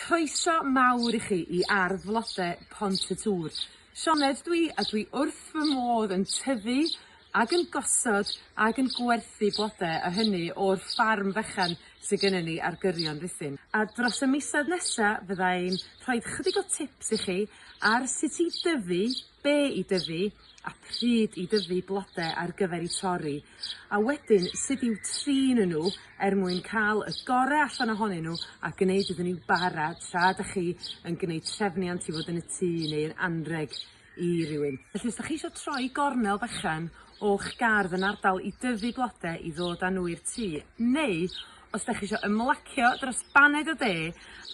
Croeso mawr i chi i ardd flode Pont y Tŵr. Sioned dw i a dwi wrth fy modd yn tyfu ag yn gosod ag yn gwerthu blode a hynny o'r ffarm fechan sy gynnon ni ar gyrion Rhuthun a dros y misoedd nesa fydda i'n rhoid chydig o tips i chi ar sut i dyfu be' i dyfu a pryd i dyfu blode ar gyfer 'u torri a wedyn sud i'w trin n'w er mwyn ca'l y gore allan ohonyn n'w a gneud iddyn n'w bara tra 'dach chi yn gneud trefniant i fod yn y tŷ neu yn anreg i rywun. Felly os 'dach chi isio troi gornel fechan o'ch gardd yn ardal i dyfu blode i ddod â n'w i'r tŷ neu Os dach chi isio ymlacio dros baned y de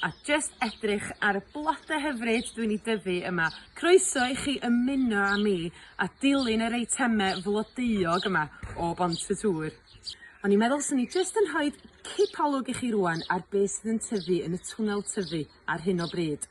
a jyst edrych ar y blode hyfryd dwi'n eu dyfu yma, croeso i chi ymuno â mi a dilyn yr eitemau flodeuog yma o Bont y Tŵr. O'n i'n meddwl swn i jyst yn rhoi cipolwg i chi rŵan ar beth sydd yn tyfu yn y twnnel tyfu ar hyn o bryd.